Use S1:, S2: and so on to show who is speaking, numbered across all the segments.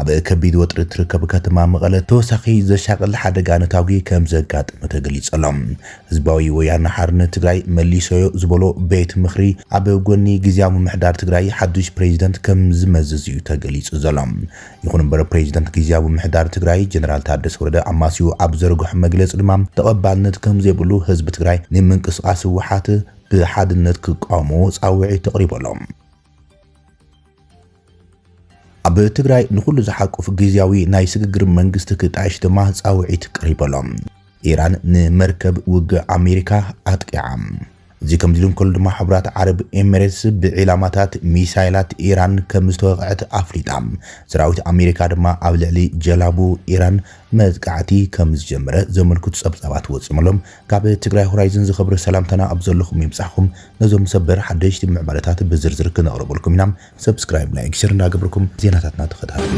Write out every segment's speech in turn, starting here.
S1: ኣብ ከቢድ ወጥሪ እትርከብ ከተማ መቐለ ተወሳኺ ዘሻቕል ሓደጋ ነታጒ ከምዘጋጠመ ተገሊፁ ኣሎ። ህዝባዊ ወያነ ሓርነት ትግራይ መሊሰዮ ዝበሎ ቤት ምኽሪ ኣብ ጎኒ ግዝያዊ ምምሕዳር ትግራይ ሓዱሽ ፕሬዚደንት ከምዝመዝዝ እዩ ተገሊፁ ዘሎ። ይኹን እምበር ፕሬዚደንት ግዝያዊ ምምሕዳር ትግራይ ጀነራል ታደሰ ወረደ ኣማስይኡ ኣብ ዘርገሖ መግለፂ ድማ ተቐባልነት ከምዘይብሉ ህዝቢ ትግራይ ንምንቅስቓስ ህወሓት ብሓድነት ክቃወሞ ፃውዒት ኣቕሪቡ ኣሎ። ኣብ ትግራይ ንኹሉ ዝሓቁፍ ግዝያዊ ናይ ስግግር መንግስቲ ክጣየሽ ድማ ጻውዒት ቀሪቡ ኣሎ። ኢራን ንመርከብ ውግእ ኣሜሪካ ኣጥቂዓ። እዚ ከምዚ ኢሉ እንከሎ ድማ ሕቡራት ዓረብ ኤሚሬትስ ብዒላማታት ሚሳይላት ኢራን ከም ዝተወቕዐት ኣፍሊጣ። ሰራዊት ኣሜሪካ ድማ ኣብ ልዕሊ ጀላቡ ኢራን መጥቃዕቲ ከም ዝጀመረ ዘመልክቱ ጸብጻባት ወጺኦም ኣሎም። ካብ ትግራይ ሆራይዝን ዝኸበረ ሰላምታና ኣብ ዘለኹም ይብጻሕኹም ነዞም ሰበር ሓደሽቲ ምዕባለታት ብዝርዝር ክነቕርበልኩም ኢና subscribe like share እንዳገበርኩም ዜናታትና ተኸታተሉ።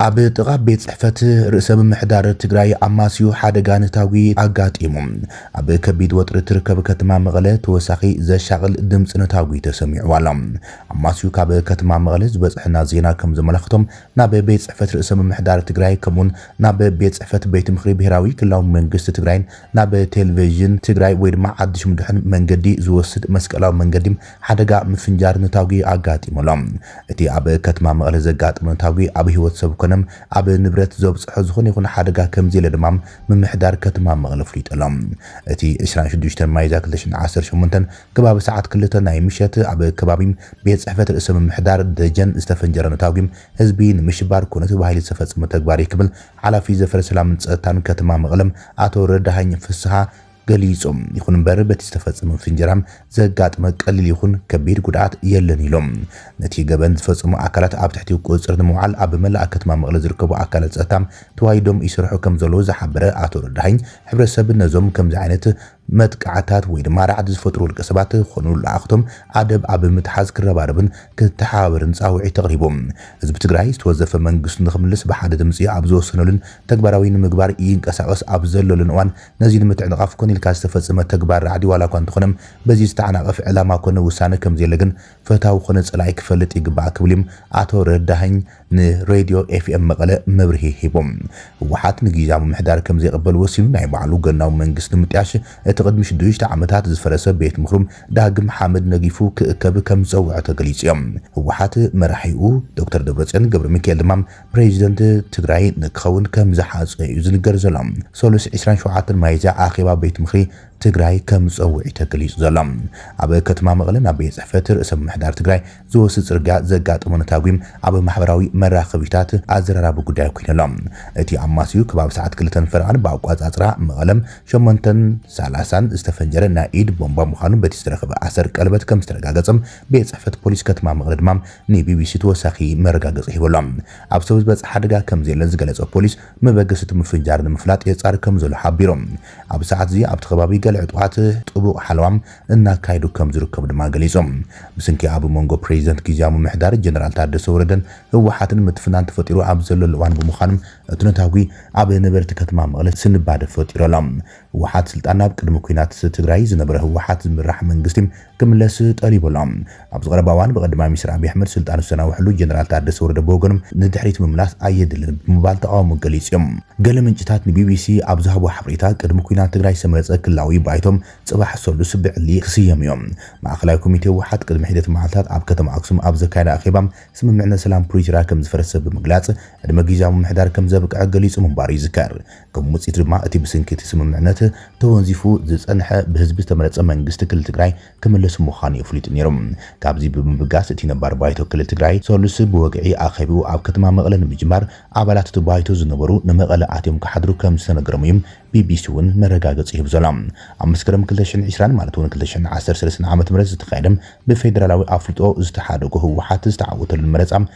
S1: ኣብ ጥቓ ቤት ፅሕፈት ርእሰ ምምሕዳር ትግራይ ኣማስዩ ሓደጋ ነታጒ ኣጋጢሙ። ኣብ ከቢድ ወጥሪ እትርከብ ከተማ መቐለ ተወሳኺ ዘሻቕል ድምፂ ነታጒ ተሰሚዑ ኣሎ። ኣማስዩ ካብ ከተማ መቐለ ዝበፅሐና ዜና ከምዘመላኽቶ ናብ ቤት ፅሕፈት ርእሰ ምምሕዳር ትግራይ ከምኡ'ውን ናብ ቤት ፅሕፈት ቤት ምኽሪ ብሄራዊ ክልላዊ መንግስቲ ትግራይን ናብ ቴልቬዥን ትግራይ ወይ ድማ ዓዲ ሽምዱሕን መንገዲ ዝወስድ መስቀላዊ መንገዲ ሓደጋ ምፍንጃር ነታጒ ኣጋጢሙ ኣሎ። እቲ ኣብ ከትማ መቐለ ዘጋጠመ ነታጒ ኣብ ህይወት ሰብ ኮነ ኣብ ንብረት ዘብጽሖ ዝኾነ ይኹን ሓደጋ ከምዘየለ ድማ ምምሕዳር ከትማ መቐለ ኣፍሊጡ ኣሎ። እቲ ዕስራን ሽዱሽተን ሚያዝያ ክልተ ሽሕን ዓሰርተ ሸሞንተን ከባቢ ሰዓት ክልተ ናይ ምሸት ኣብ ከባቢ ቤት ጽሕፈት ርእሰ ምምሕዳር ደጀን ዝተፈንጀረ ነታጒ ህዝቢ ንምሽባር ኮነ ተባሂሉ ዝተፈጸመ ተግባር እዩ ክብል ሓላፊ ዘፈር ሰላምን ጸጥታን ከትማ መቐለ ኣቶ ረዳሀኝ ፍስሃ ገሊጹ። ይኹን እምበር በቲ ዝተፈጸመ ፍንጀራ ዘጋጥመ ቀሊል ይኹን ከቢድ ጉድኣት የለን ኢሉ። ነቲ ገበን ዝፈጸሙ ኣካላት ኣብ ትሕቲ ቁጽጽር ንምውዓል ኣብ መላእ ከተማ መቐለ ዝርከቡ ኣካላት ጸጥታ ተዋዲዶም ይሰርሑ ከምዘለዉ ዝሓበረ ኣቶ ረዳሀኝ፣ ሕብረተሰብ ነዞም ከምዚ ዓይነት መጥቃዕትታት ወይ ድማ ራዕዲ ዝፈጥሩ ውልቀሰባት ኮኑ ለኣኽቶም ኣደብ ኣብ ምትሓዝ ክረባረብን ክተሓባበርን ጻውዒት ኣቕሪቡ። ህዝቢ ትግራይ ዝተወዘፈ መንግስቱ ንኽምልስ ብሓደ ድምጺ ኣብ ዝወሰነሉን ተግባራዊ ንምግባር ይንቀሳቐስ ኣብ ዘለሉን እዋን ነዚ ንምትዕንቓፍ ኮነ ኢልካ ዝተፈጸመ ተግባር ራዕዲ ዋላኳ እንተኾነ በዚ ዝተዓናቐፈ ዕላማ ኮነ ውሳነ ከምዘየለ ግን ፈታዊ ኮነ ጸላኢ ክፈልጥ ይግባእ ክብል'ዩ ኣቶ ረዳሀኝ ንሬድዮ ኤፍኤም መቐለ መብርሂ ሂቡ። ህወሓት ንጊዚያዊ ምምሕዳር ከምዘይቕበል ወሲኑ ናይ ባዕሉ ገናዊ መንግስቲ ንምጥያሽ እቲ ቅድሚ ሽዱሽተ ዓመታት ዝፈረሰ ቤት ምኽሩ ዳግም ሓመድ ነጊፉ ክእከብ ከምዝጸውዐ ተገሊጹ'ዩ። ህወሓት መራሒኡ ዶክተር ደብረጽዮን ገብረሚካኤል ድማ ፕሬዚደንት ትግራይ ክኸውን ከምዝሓጸ እዩ ዝንገር ዘሎ። ሰሉስ ዕስራን ሸውዓተን ሚያዝያ ኣኼባ ቤት ምኽሪ ትግራይ ከምዝጸውዕ እዩ ተገሊጹ ዘሎ። ኣብ ከተማ መቐለ ናብ ቤት ጽሕፈት ርእሰ ምምሕዳር ትግራይ ዝወስድ ጽርግያ ዘጋጠሞ ነታጒ ኣብ ማሕበራዊ መራኸቢታት ኣዘራራቢ ጉዳይ ኮይኑ ኣሎ። እቲ ኣማስዩ ከባቢ ሰዓት ክልተን ፈረቓን ብኣቆጻጽራ መቐለ ሸሞንተን ሰላሳን ዝተፈንጀረ ናይ ኢድ ቦምባ ምዃኑ በቲ ዝተረኽበ ኣሰር ቀለበት ከምዝተረጋገጸ ቤት ጽሕፈት ፖሊስ ከተማ መቐለ ድማ ንቢቢሲ ተወሳኺ መረጋገጺ ሂቡ ኣሎ። ኣብ ሰብ ዝበጽሐ ሓደጋ ከምዘየለ ዝገለጸ ፖሊስ፣ መበገሲ እቲ ምፍንጃር ንምፍላጥ የጻሪ ከምዘሎ ሓቢሩ። ኣብዚ ሰዓት'ዚ ኣብቲ ከባቢ ገለ ዕጡቓት ጥቡቕ ሓለዋ እናካየዱ ከምዝርከቡ ድማ ገሊጹ። ብስንኪ ኣብ መንጎ ፕረዚደንት ግዝያዊ ምምሕዳር ጀነራል ታደሰ ወረደን ህወሓትን ምትፍናን ተፈጢሩ ኣብ ዘለሉ እዋን ብምዃኑ፣ እቲ ነታጒ ኣብ ነበርቲ ከተማ መቐለ ስንባደ ፈጢሩ ኣሎ። ህወሓት ስልጣን ኣብ ቅድሚ ኲናት ትግራይ ዝነበረ ህወሓት ዝምራሕ መንግስቲ፣ ክምለስ ጠሊቡ ኣሎ። ኣብዚ ቀረባ እዋን ብቀዳማይ ሚኒስትር ኣቢይ ኣሕመድ ስልጣኑ ዝተናውሐሉ ጀነራል ታደሰ ወረደ ብወገኑ ንድሕሪት ምምላስ ኣየድልን ብምባል ተቓውሞ ገሊጹ እዩ። ገለ ምንጭታት ንቢቢሲ ኣብ ዝሃብዎ ሓበሬታ ቅድሚ ኲናት ትግራይ ዝተመረጸ ክልላዊ ባይቶ ጽባሕ ሰሉስ ብዕሊ ክስየም እዩ። ማእከላይ ኮሚቴ ህወሓት ቅድሚ ሒደት መዓልታት ኣብ ከተማ ኣክሱም ኣብ ዘካየዶ ኣኼባ ስምምዕነት ሰላም ፕሪቶርያ ከምዝፈረሰ ብምግላጽ ዕድመ ግዝያዊ ምምሕዳር ከምዘብቅዐ ገሊጹ ምንባሩ ይዝከር። ከም ውጽኢት ድማ እቲ ብስንኪ እቲ ስምምዕነት ተወንዚፉ ዝጸንሐ ብህዝቢ ዝተመረጸ መንግስቲ ክልል ትግራይ ክምለስ ምዃኑ የፍሊጡ ነይሮም። ካብዚ ብምብጋስ እቲ ነባር ባይቶ ክልል ትግራይ ሰሉስ ብወግዒ ኣኼብኡ ኣብ ከተማ መቐለ ንምጅማር ኣባላት እቲ ባይቶ ዝነበሩ ንመቐለ ኣትዮም ክሓድሩ ከም ዝተነገሮም እዩ ቢቢሲ እውን መረጋገጺ ሂቡ ዘሎ። ኣብ መስከረም ክልተ ሽሕን ዕስራን ማለት እውን ክልተ ሽሕን ዓሰርተ ሰለስተን ዓመተ ምህረት ዝተኻየደ ብፌደራላዊ ኣፍልጦ ዝተሓደጎ ህወሓት ዝተዓወተሉን መረጻ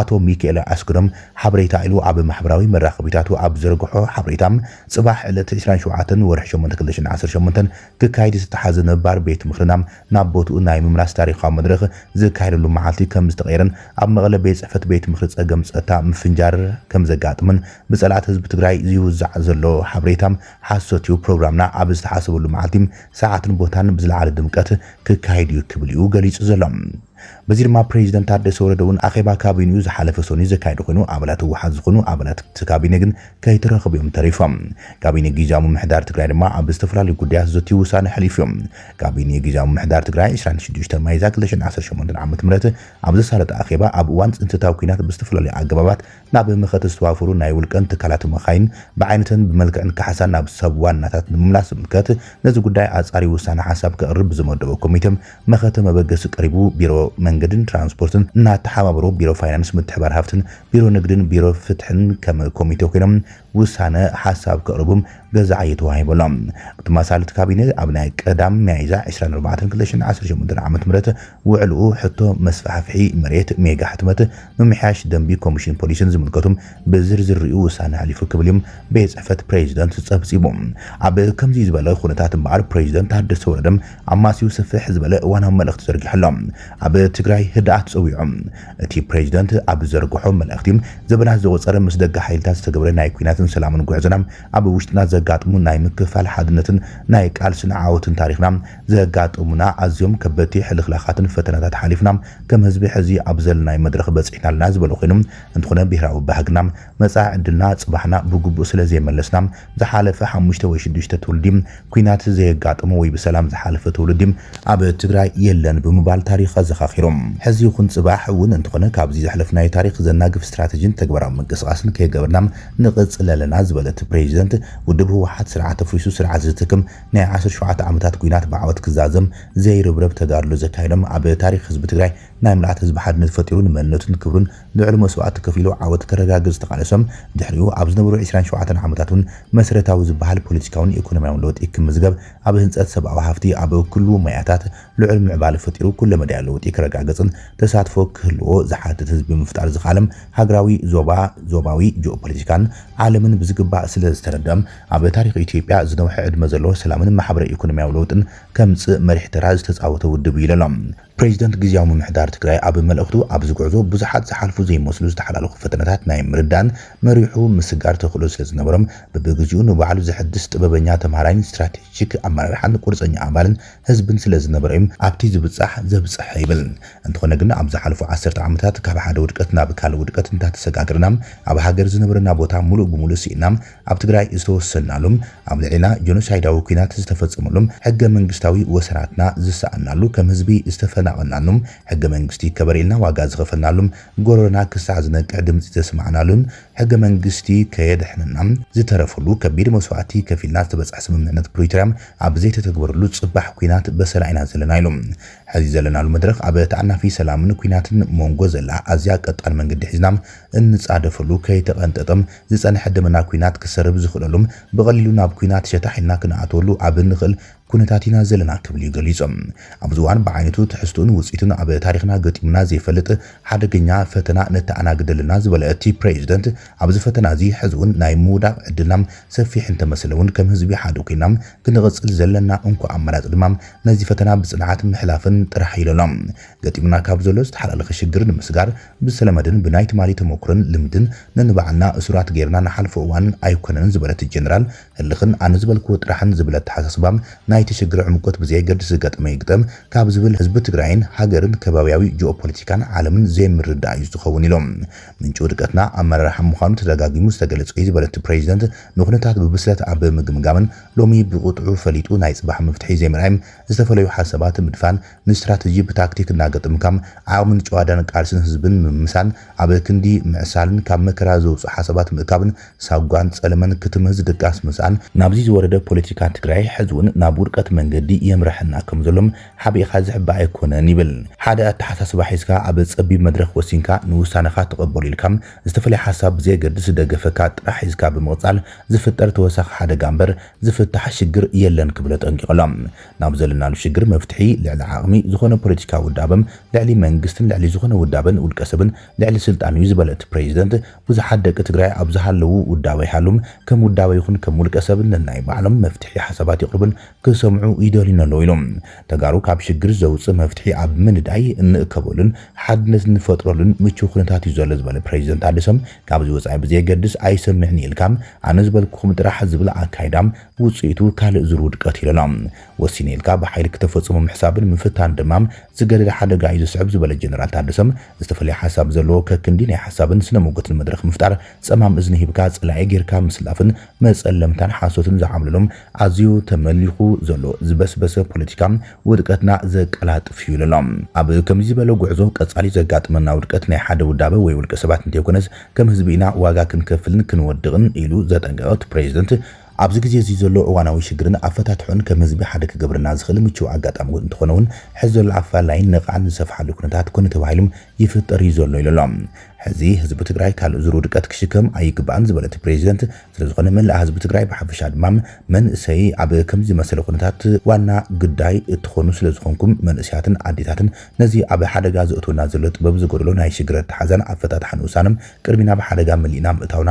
S1: ኣቶ ሚኪኤለ ኣስገዶም ሓበሬታ ኢሉ ኣብ ማሕበራዊ መራኸቢታቱ ኣብ ዝዘርግሖ ሓበሬታ፣ ጽባሕ ዕለት ዕስራን ሸውዓተን ወርሒ ሸሞንተ ክልተ ሽሕን ዓሰርተ ሸሞንተን ክካየድ ዝተታሕዘ ነባር ቤት ምኽርና ናብ ቦትኡ ናይ ምምላስ ታሪኻዊ መድረኽ ዝካየደሉ መዓልቲ ከምዝተቐየረን ኣብ መቐለ ቤት ጽሕፈት ቤት ምኽሪ ጸገም ጸጥታ ምፍንጃር ከምዘጋጥምን ብጸላእቲ ህዝቢ ትግራይ ዝውዛዕ ዘሎ ሓበሬታ ሓሶት'ዩ፣ ፕሮግራምና ኣብ ዝተሓሰበሉ መዓልቲ፣ ሰዓትን ቦታን ብዝለዓለ ድምቀት ክካየድ'ዩ ክብል'ዩ ገሊጹ ዘሎ። በዚ ድማ ፕሬዚደንት ታደሰ ወረደ እውን ኣኼባ ካቢኒኡ ዝሓለፈ ሰኑይ ዘካየደ ኮይኑ ኣባላት ህወሓት ዝኾኑ ኣባላት እቲ ካቢኔ ግን ከይተረኸቡ እዮም ተሪፎም። ካቢኔ ጊዚያዊ ምምሕዳር ትግራይ ድማ ኣብ ዝተፈላለዩ ጉዳያት ዘትዩ ውሳነ ኣሕሊፉ እዩ። ካቢኔ ጊዚያዊ ምምሕዳር ትግራይ ዕስራን ሽዱሽተን ሚያዝያ ክልተ ሽሕን ዓሰርተ ሸሞንተን ዓመተ ምህረት ኣብ ዘሳለጦ ኣኼባ ኣብ እዋን ፅንተታዊ ኲናት ብዝተፈላለዩ ኣገባባት ናብ መኸተ ዝተዋፈሩ ናይ ውልቀን ትካላትን መኻይን ብዓይነተን ብመልክዕን ካሕሳ ናብ ሰብ ዋናታት ንምምላስ ዝምልከት ነዚ ጉዳይ ኣፃርዩ ውሳነ ሓሳብ ከቕርብ ብዝመደቦ ኮሚቴ መኸተ መበገሲ ቀሪቡ ቢሮ መንገድን ትራንስፖርትን እናተሓባበሩ ቢሮ ፋይናንስ ምትሕብባር ሃፍትን ቢሮ ንግድን ቢሮ ፍትሕን ከም ኮሚቴ ኮይኖም ውሳነ ሓሳብ ከቕርቡ ገዛዕ እዩ ተዋሂቡሎም። እቲ ማሳልት ካቢነ ኣብ ናይ ቀዳም ሚያይዛ ዕስራን ኣርባዕተን ክልተ ሽሕን ዓሰርተ ሸሞንተን ዓመተ ምህረት ውዕልኡ ሕቶ መስፋሕፍሒ መሬት፣ ሜጋ ሕትመት፣ ምምሕያሽ ደንቢ ኮሚሽን ፖሊስን ዝምልከቱ ብዝርዝር ሪኡ ውሳነ ኣሕሊፉ ክብል እዩ ቤት ፅሕፈት ፕሬዚደንት ፀብፂቡ። ኣብ ከምዙይ ዝበለ ኹነታት እምበኣር ፕሬዚደንት ታደሰ ወረደ ኣማስዩ ስፍሕ ዝበለ እዋናዊ መልእኽቲ ዘርጊሑ ኣሎ። ኣብ ትግራይ ህድኣት ፀዊዑ። እቲ ፕሬዚደንት ኣብ ዝዘርግሖ መልእኽቲ፣ ዘበናት ዘቑፀረ ምስ ደገ ሓይልታት ዝተገብረ ናይ ኲናትን ሰላምን ጉዕዞና ኣብ ውሽጥና ዘጋጥሙ ናይ ምክፍፋል ሓድነትን ናይ ቃልስን ዓወትን ታሪኽና ዘጋጠሙና ኣዝዮም ከበድቲ ሕልኽላኻትን ፈተናታት ሓሊፍና ከም ህዝቢ ሕዚ ኣብ ዘለናዮ መድረኽ በፂሕና ኣለና ዝበለ ኮይኑ እንትኾነ ብሄራዊ ባህግና መፃኢ ዕድልና ፅባሕና ብግቡእ ስለዘይመለስና ዝሓለፈ ሓሙሽተ ወይ ሽዱሽተ ትውልዲ ኲናት ዘየጋጠሞ ወይ ብሰላም ዝሓለፈ ትውልዲ ኣብ ትግራይ የለን ብምባል ታሪኽ ኣዘኻኺሩ። ሕዚ ይኹን ፅባሕ እውን እንተኾነ ካብዚ ዘሕለፍናዮ ታሪኽ ዘናግፍ ስትራቴጂን ተግባራዊ ምንቅስቓስን ከይገበርና ንቕፅል ኣለና ዝበለት ፕሬዚደንት፣ ውድብ ህወሓት ስርዓት ኣፍሪሱ ስርዓት ዝትክም ናይ ዓሰርተ ሸውዓተ ዓመታት ኲናት ብዓወት ክዛዘም ዘይርብረብ ተጋድሎ ዘካየዶም ኣብ ታሪኽ ህዝቢ ትግራይ ናይ ምልኣት ህዝቢ ሓድነት ፈጢሩ ንመንነቱን ክብሩን ልዑል መስዋእቲ ከፊሉ ዓወት ከረጋግፅ ዝተቓለሶም ድሕሪኡ ኣብ ዝነበሩ ዕስራን ሸውዓተን ዓመታት እውን መሰረታዊ ዝበሃል ፖለቲካውን ኢኮኖሚያውን ለውጢ ክምዝገብ ኣብ ህንፀት ሰብኣዊ ሃፍቲ ኣብ ኩሉ ሞያታት ልዑል ምዕባል ፈጢሩ ኩለመዳያዊ ለውጢ ክረጋገፅን ተሳትፎ ክህልዎ ዝሓትት ህዝቢ ምፍጣር ዝኸኣለም ሃገራዊ ዞባ ዞባዊ ጂኦፖለቲካን ዓለምን ብዝግባእ ስለዝተረደኦም ኣብ ታሪኽ ኢትዮጵያ ዝነውሐ ዕድመ ዘለዎ ሰላምን ማሕበረ ኢኮኖሚያዊ ለውጥን ከምፅእ መሪሕ ተራ ዝተፃወተ ውድብ እዩ ኢለሎም። ፕሬዚደንት ግዝያዊ ምምሕዳር ትግራይ ኣብ መልእኽቱ ኣብዚ ጉዕዞ ብዙሓት ዝሓልፉ ዘይመስሉ ዝተሓላለኹ ፈተነታት ናይ ምርዳእን መሪሑ ምስጋር ተኽእሎ ስለዝነበሮም ብብግዚኡ ንባዕሉ ዘሐድስ ጥበበኛ ተምሃራይን ስትራቴጂክ ኣመራርሓን ቁርፀኛ ኣባልን ህዝብን ስለዝነበሮ ዩ ኣብቲ ዝብፃሕ ዘብፀሐ ይብል። እንተኾነ ግን ኣብ ዝሓለፉ ዓሰርተ ዓመታት ካብ ሓደ ውድቀት ናብ ካልእ ውድቀት እንዳተሰጋገርና ኣብ ሃገር ዝነበረና ቦታ ሙሉእ ብሙሉእ ስኢንና ኣብ ትግራይ ዝተወሰንናሉም፣ ኣብ ልዕሌና ጆኖሳይዳዊ ኩናት ዝተፈጸመሉም፣ ሕገ መንግስታዊ ወሰናትና ዝሰኣንናሉ፣ ከም ህዝቢ ዝተፈናቐልናሉም፣ ሕገ መንግስቲ ይከበር ኢልና ዋጋ ዝኸፈልናሉም፣ ጎረሮና ክሳዕ ዝነቅዕ ድምጺ ዘስማዕናሉን ሕገ መንግስቲ ከየድሕነና ዝተረፈሉ፣ ከቢድ መስዋእቲ ከፊልና ዝተበጽሐ ስምምዕነት ፕሪቶርያ ኣብ ዘይተተግበረሉ ጽባሕ ኩናት በሰላ ኢና ዘለና ኢሉ። ሕዚ ዘለናሉ መድረኽ ኣብ ተኣናፊ ሰላምን ኩናትን ሞንጎ ዘላ ኣዝያ ቀጣን መንገዲ ሒዝና እንጻደፈሉ ከይተቐንጠጠም ዝጸንሐ ደመና ኩናት ክሰርብ ዝኽእለሉም ብቐሊሉ ናብ ኩናት ሸታሕ ኢልና ክንኣትወሉ ኣብ እንኽእል ኩነታት ኢና ዘለና ክብል'ዩ ገሊጾም። ኣብዚ እዋን ብዓይነቱ፣ ትሕዝትኡን ውጽኢቱን ኣብ ታሪኽና ገጢሙና ዘይፈልጥ ሓደገኛ ፈተና ነተኣናግደልና ዝበለ እቲ ፕሬዚደንት፣ ኣብዚ ፈተና'ዚ ሕዚ'ውን ናይ ምውዳቕ ዕድልና ሰፊሕ እንተመሰለ'ውን ከም ህዝቢ ሓደ ኮይንና ክንቕጽል ዘለና እንኮ ኣማራጺ ድማ ነዚ ፈተና ብጽንዓት ምሕላፍን ጥራሕ ኢሎ'ሎ። ገጢሙና ካብ ዘሎ ዝተሓላለኸ ሽግር ንምስጋር ብዝተለመደን ብናይ ትማሊ ተሞኩሮን ልምድን ነንባዕልና እሱራት ገይርና ንሓልፎ እዋን ኣይኮነን ዝበለት እቲ ጀነራል፣ ህልኽን ኣነ ዝበልክዎ ጥራሕን ዝብል ኣተሓሳስባ ናይቲ ሽግር ዕምቆት ብዘየገድስ ዝገጠመ ይግጠም ካብ ዝብል ህዝቢ ትግራይን ሃገርን ከባብያዊ ጂኦፖለቲካን ዓለምን ዘይምርዳእ እዩ ዝኸውን ኢሎም። ምንጪ ውድቀትና ኣመራርሓ ምዃኑ ተደጋጊሙ ዝተገለፀ እዩ ዝበለ እቲ ፕሬዚደንት፣ ንኩነታት ብብስለት ኣብ ምግምጋምን ሎሚ ብቕጥዑ ፈሊጡ ናይ ፅባሕ መፍትሒ ዘይምርኣይ ዝተፈለዩ ሓሳባት ምድፋን ንስትራተጂ ብታክቲክ እናገጠምካ ዓቕምን ጭዋዳን ቃልስን ህዝብን ምምሳል፣ ኣብ ክንዲ ምዕሳልን ካብ መከራ ዘውጽኡ ሓሳባት ምእካብን ሳጓን ጸለመን ክትምህዝ ድቃስ ምስኣን፣ ናብዚ ዝወረደ ፖለቲካ ትግራይ ሕዚ'ውን ናብ ውድቀት መንገዲ የምርሓና ከም ዘሎ ሓቢእኻ ዝሕባእ ኣይኮነን ይብል። ሓደ ኣተሓሳስባ ሒዝካ ኣብ ጸቢብ መድረኽ ወሲንካ ንውሳነኻ ተቐበሎ ኢልካ ዝተፈለየ ሓሳብ ብዘየገድስ ደገፈካ ጥራሕ ሒዝካ ብምቕጻል ዝፍጠር ተወሳኺ ሓደጋ እምበር ዝፍታሕ ሽግር የለን ክብል ኣጠንቂቑ ኣሎ። ናብ ዘለናሉ ሽግር መፍትሒ ልዕሊ ዓቕሚ ዝኾነ ፖለቲካዊ ውዳበም ልዕሊ መንግስትን ልዕሊ ዝኾነ ውዳበን ውልቀ ሰብን ልዕሊ ስልጣንዩ ዝበለ እቲ ፕረዚደንት ብዙሓት ደቂ ትግራይ ኣብ ዝሃለዉ ውዳበ ይሃሉም ከም ውዳበ ይኹን ከም ውልቀ ሰብ ነናይ ባዕሎም መፍትሒ ሓሳባት የቕርቡን ክሰምዑ ይደልዩን ኣለዉ ኢሉ። ተጋሩ ካብ ሽግር ዘውፅእ መፍትሒ ኣብ ምንዳይ እንእከበሉን ሓድነት እንፈጥረሉን ምችው ኩነታት ዩ ዘሎ ዝበለ ፕረዚደንት ታደሰ ካብዚ ወፃኢ ብዘየገድስ ኣይሰምዕንየ ኢልካ ኣነ ዝበልኩኹም ጥራሕ ዝብል ኣካይዳ ውጽኢቱ ካልእ ዙር ውድቀት እዩ ኢለና። ወሲነ ኢልካ ብሓይሊ ክተፈጽሞ ምሕሳብን ምፍታን ድማ ዝገደደ ሓደጋ እዩ ዘስዕብ ዝበለ ጀነራል ታደሰ፣ ዝተፈለየ ሓሳብ ዘለዎ ከክንዲ ናይ ሓሳብን ስነ ሞገትን መድረኽ ምፍጣር፣ ጸማም እዝኒ ሂብካ ጸላኢ ጌርካ ምስላፍን መጸለምታን ሓሶትን ዝዓብለሎ ኣዝዩ ተመሊኹ ዘሎ ዝበስበሰ ፖለቲካ ውድቀትና ዘቀላጥፍ እዩ ኢለና። ኣብ ከምዚ ዝበለ ጉዕዞ ቀጻሊ ዘጋጥመና ውድቀት ናይ ሓደ ውዳበ ወይ ውልቀ ሰባት እንተይኮነስ ከም ህዝቢ ኢና ዋጋ ክንከፍልን ክንወድቕን ኢሉ ዘጠንቀቐ እቲ ፕረዚደንት፣ ኣብዚ ግዜ እዚ ዘሎ እዋናዊ ሽግርን ኣፈታትሕኡን ከም ህዝቢ ሓደ ክገብረና ዝኽእል ምቹው ኣጋጣሚ እውን እንተኾነ እውን ሕዚ ዘሎ ኣፈላላይን ነቓዕን ዝሰፍሓሉ ኩነታት ኮነ ተባሂሉ ይፍጠር እዩ ዘሎ ኢሉ ኣሎ። ሕዚ ህዝቢ ትግራይ ካልእ ዙር ውድቀት ክሽከም ኣይግባእን ዝበለ እቲ ፕሬዚደንት ስለዝኾነ መላእ ህዝቢ ትግራይ ብሓፈሻ ድማ መንእሰይ ኣብ ከምዚ ዝመሰለ ኩነታት ዋና ግዳይ እትኾኑ ስለዝኾንኩም መንእሰያትን ኣዴታትን ነዚ ኣብ ሓደጋ ዘእትወና ዘሎ ጥበብ ዝጎደሎ ናይ ሽግር ኣተሓዛን ኣፈታትሓን ውሳነ ቅድሚ ናብ ሓደጋ መሊእና ምእታውና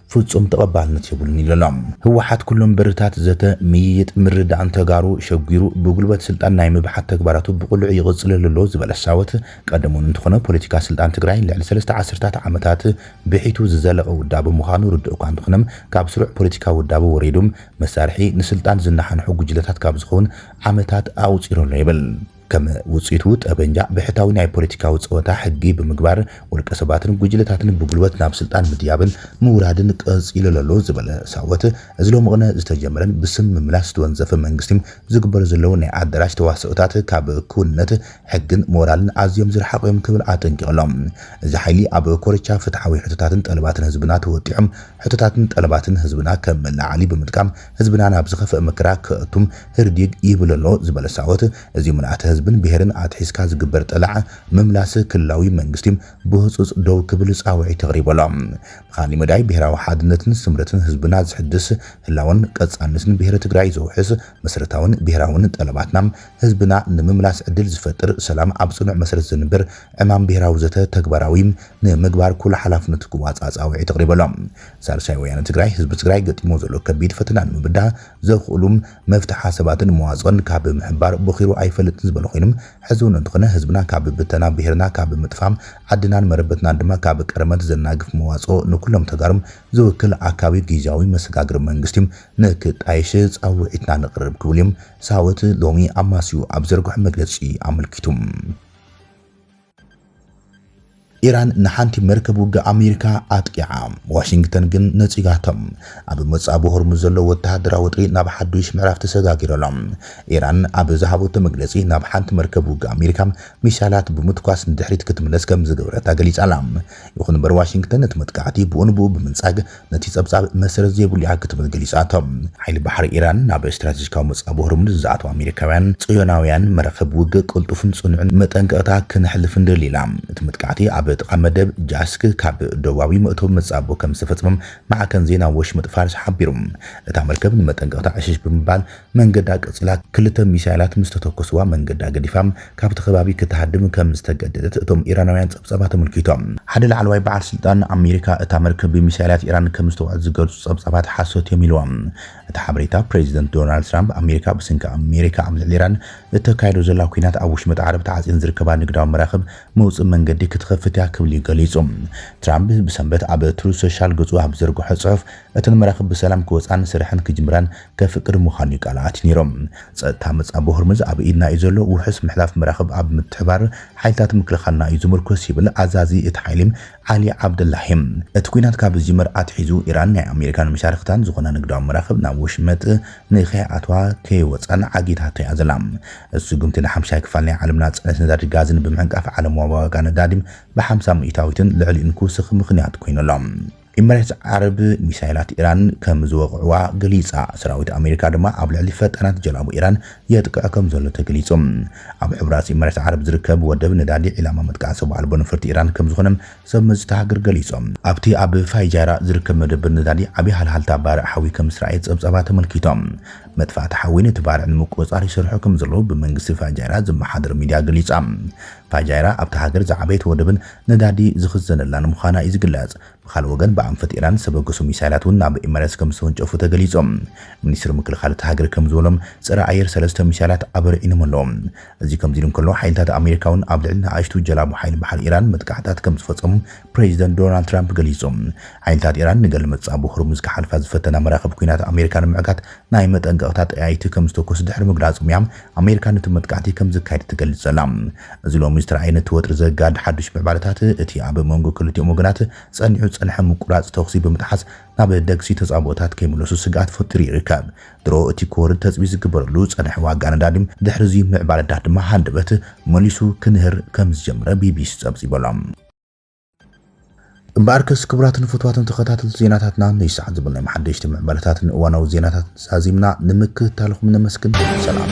S1: ፍፁም ተቐባልነት የብሉን ኢሉ ኣሎ። ህወሓት ኩሎም በርታት ዘተ፣ ምይይጥ፣ ምርድዳእን ተጋሩ ሸጒሩ ብጉልበት ስልጣን ናይ ምብሓት ተግባራቱ ብቕሉዕ ይቕፅለሉ ኣሎ ዝበለ ሳወት፣ ቀደም እውን እንተኾነ ፖለቲካ ስልጣን ትግራይ ልዕሊ ሰለስተ ዓሰርታት ዓመታት ብሒቱ ዝዘለቐ ውዳበ ምዃኑ ርዱእ እኳ እንተኾነ ካብ ስሩዕ ፖለቲካዊ ውዳበ ወሪዱ መሳርሒ ንስልጣን ዝነሓንሑ ጉጅለታት ካብ ዝኸውን ዓመታት ኣቑፂሩ ኣሎ ይብል። ከም ውጽኢቱ ጠበንጃ ብሕታዊ ናይ ፖለቲካዊ ጸወታ ሕጊ ብምግባር ውልቀ ሰባትን ጉጅለታትን ብጉልበት ናብ ስልጣን ምድያብን ምውራድን ቀጺሉሎሎ ዝበለ ሳወት እዚ ሎምቕነ ዝተጀመረን ብስም ምምላስ ዝተወንዘፈ መንግስቲ ዝግበሩ ዘለዉ ናይ ኣዳራሽ ተዋስኦታት ካብ ክውንነት ሕግን ሞራልን ኣዝዮም ዝረሓቑ እዮም ክብል ኣጠንቂቑሎ። እዚ ሓይሊ ኣብ ኮርቻ ፍትሓዊ ሕቶታትን ጠለባትን ህዝብና ተወጢዑ ሕቶታትን ጠለባትን ህዝብና ከም መለዓዓሊ ብምጥቃም ህዝብና ናብ ዝኸፍእ መከራ ከእቱ ህርዲግ ይብል ኣሎ ዝበለ ሳወት፣ እዚ ምልኣተ ህዝብን ብሄርን ኣትሒዝካ ዝግበር ጠላዕ ምምላስ ክልላዊ መንግስቲ ብህፁፅ ደው ክብል ፃውዒት ኣቕሪቡ ኣሎ። ብኻሊእ መዳይ ብሄራዊ ሓድነትን ስምረትን ህዝብና ዘሕድስ፣ ህላወን ቀፃልነትን ብሄረ ትግራይ ዘውሕስ፣ መሰረታዊን ብሄራዊን ጠለባትና ህዝብና ንምምላስ ዕድል ዝፈጥር፣ ሰላም ኣብ ፅኑዕ መሰረት ዘንብር ዕማም ብሄራዊ ዘተ ተግባራዊ ንምግባር ኩሉ ሓላፍነቱ ክዋፃእ ፃውዒት ኣቕሪቡ ኣሎ። ሳልሳይ ወያነ ትግራይ ህዝቢ ትግራይ ገጢምዎ ዘሎ ከቢድ ፈተና ንምብዳህ ዘኽእሉ መፍትሒ ሓሳባትን መዋፅኦን ካብ ምሕባር ቦኺሩ ኣይፈልጥን ዝበሉ ኮይኖም ሕዚ እውን እንተኾነ ህዝብና ካብ ብተና ብሄርና ካብ ምጥፋእ ዓድናን መረበትናን ድማ ካብ ቀርመት ዘናግፍ መዋፅኦ ንኩሎም ተጋሩ ዝውክል ኣካቢ ጊዚያዊ መሰጋገሪ መንግስቲ ንክጣየሽ ፃውዒትና ነቕርብ ክብሉ እዮም ሳወት ሎሚ ኣማስዩ ኣብ ዘርግሖ መግለፂ ኣመልኪቱ። ኢራን ንሓንቲ መርከብ ውግእ ኣሜሪካ ኣጥቂዓ፣ ዋሽንግተን ግን ነጺጋቶም። ኣብ መጻብቦ ሆርሙዝ ዘሎ ወተሃደራዊ ወጥሪ ናብ ሓዱሽ ምዕራፍ ተሰጋጊሩ ኣሎ። ኢራን ኣብ ዝሃበቶ መግለጺ፣ ናብ ሓንቲ መርከብ ውግእ ኣሜሪካ ሚሳይላት ብምትኳስ ንድሕሪት ክትምለስ ከምዝገበረታ ገሊጻ'ላ። ይኹን'ምበር ዋሽንግተን ነቲ መጥቃዕቲ ብኡንብኡ ብምንጻግ፣ ነቲ ጸብጻብ መሰረት ዘይብሉ እያ ክትብል ገሊጻቶ። ሓይሊ ባሕሪ ኢራን ናብ ስትራተጂካዊ መጻብቦ ሆርሙዝ ዝኣትዉ ኣሜሪካውያን ጽዮናውያን መራኽብ ውግእ ቅልጡፍን ጽኑዕን መጠንቀቕታ ክነሕልፍ ንደሊ ኢላ። እቲ መጥቃዕቲ ኣብ ጥቓ መደብ ጃስክ ካብ ደቡባዊ መእተዊ መጻብቦ ከምዝተፈጸመ ማዕከን ዜና ወሽመጥ ፋርስ ሓቢሩ። እታ መርከብ ንመጠንቀቕታ ዕሽሽ ብምባል መንገዳ ቀጺላ፣ ክልተ ሚሳይላት ምስ ተተኮስዋ መንገዳ ገዲፋ ካብቲ ከባቢ ክትሃድም ከም ዝተገደደት እቶም ኢራናውያን ጸብጻባት ኣመልኪቶም። ሓደ ላዕለዋይ በዓል ስልጣን፣ ኣሜሪካ እታ መርከብ ብሚሳይላት ኢራን ከም ዝተወቕዐት ዝገልጹ ጸብጻባት ሓሶት'ዮም ኢልዎም። እቲ ሓበሬታ፣ ፕረዚደንት ዶናልድ ትራምፕ፣ ኣሜሪካ ብሰንኪ ኣሜሪካ ኣብ ልዕሊ ኢራን እተካይዶ ዘላ ኲናት ኣብ ወሽመጥ ዓረብ ተዓጽየን ዝርከባ ንግዳዊ መራኽብ መውጽኢ መንገዲ ክትኸፍት'ያ ክብል'ዩ ገሊጹ። ትራምፕ ብሰንበት ኣብ ትሩዝ ሶሻል ገጹ ኣብ ዝዘርግሖ ጽሑፍ፣ እተን መራኽብ ብሰላም ክወጽኣን ስርሐን ክጅምራን፣ ከፍቅድ ምዃኑ'ዩ ቃል ኣትኒሮ። ጸጥታ መጻብቦ ሆርምዝ ኣብ ኢድና'ዩ ዘሎ፣ ውሑስ ምሕላፍ መራኽብ ኣብ ምትሕብባር ሓይልታት ምክልኻልና እዩ ዝምርኮስ ይብል ኣዛዚ እቲ ሓይሊ ዓሊ ዓብደላሂ። እቲ ኲናት ካብ ዝጅመር ኣትሒዙ ኢራን ናይ ኣሜሪካን መሻርኽታን ዝኾና ንግዳዊ መራኽብ ናብ ወሽመጥ ንከይኣትዋ ከይወጻን ዓጊታቶ'ያ ዘላ። እቲ ስጉምቲ ንሓምሻይ ክፋል ናይ ዓለምና ጽዕነት ነዳዲ ጋዝን ብምዕንቃፍ ዓለማዊ ዋጋ ነዳዲ ብሓምሳ ሚእታዊትን ልዕሊኡን ክውስኽ ምኽንያት ኮይኑ ኣሎ። ኢመሬትስ ዓረብ ሚሳይላት ኢራን ከም ዝወቕዕዋ ገሊጻ። ሰራዊት ኣሜሪካ ድማ ኣብ ልዕሊ ፈጣናት ጀላቡ ኢራን የጥቅዕ ከም ዘሎ ተገሊጹ። ኣብ ሕቡራት ኢመሬትስ ዓረብ ዝርከብ ወደብ ነዳዲ ዒላማ መጥቃዕቲ ሰብ ኣልቦ ነፈርቲ ኢራን ከም ዝኾነ ሰብ መዚ እታ ሃገር ገሊጾም። ኣብቲ ኣብ ፋይጃራ ዝርከብ መደብር ነዳዲ ዓቢ ሃልሃልታ ባርዕ ሓዊ ከም ዝረኣየ ጸብጻባት ኣመልኪቶም። መጥፋእቲ ሓዊ ነቲ ባርዕ ንምቁጽጻር ይሰርሑ ከም ዘለዉ ብመንግስቲ ፋይጃራ ዝመሓደር ሚድያ ገሊጻ። ፋይጃራ ኣብታ ሃገር ዝዓበየት ወደብን ነዳዲ ዝኽዘነላ ንምዃና እዩ ዝግለጽ። ብኻልእ ወገን ብኣንፈት ኢራን ዝተበገሱ ሚሳይላት እውን ናብ ኤመረትስ ከምዝተወንጨፉ ተገሊጹ። ሚኒስትሪ ምክልኻል እታ ሃገር ከምዝበሎም ጸረ ኣየር ሰለስተ ሚሳይላት ኣበሪዒኖም ኣለዉ። እዚ ከምዚ ኢሉ እንከሎ ሓይልታት ኣሜሪካ እውን ኣብ ልዕሊ ንኣሽቱ ጀላቡ ሓይሊ ባሕሪ ኢራን መጥቃዕትታት ከምዝፈጸሙ ፕረዚደንት ዶናልድ ትራምፕ ገሊጹ። ሓይልታት ኢራን ንገለ መጻ ብሆርሙዝ ክሓልፋ ዝፈተና መራኽብ ኲናት ኣሜሪካ ንምዕጋት ናይ መጠንቀቕታ ጠያይቲ ከምዝተኮሱ ድሕሪ ምግላጾም እያ ኣሜሪካ ነቲ መጥቃዕቲ ከም ዝካየድ ትገልጽ ዘላ። እዚ ሎሚ ዝተራእየ ነቲ ወጥሪ ዘጋድድ ሓድሽ ምዕባለታት፣ እቲ ኣብ መንጎ ክልቲኦም ወገናት ጸኒዑ ዝጸንሐ ምቁራጽ ተኹሲ ብምጥሓስ ናብ ደግሲ ተጻብኦታት ከይምለሱ ስግኣት ፈጢሩ ይርከብ። ድሮ እቲ ክወርድ ተጽቢት ዝግበረሉ ዝጸንሐ ዋጋ ነዳዲ፣ ድሕሪ'ዚ ምዕባለታት ድማ ሃንደበት መሊሱ ክንህር ከም ዝጀመረ ቢቢሲ ጸብጺቡ ኣሎ። እምበኣርከስ ክቡራትን ፍትዋትን ተኸታተልቲ ዜናታትና ንይዚ ሰዓት ዝበልናዮም ሓደሽቲ ምዕባለታትን እዋናዊ ዜናታትን ዛዚምና ንምክትታልኹም ነመስግን። ሰላም።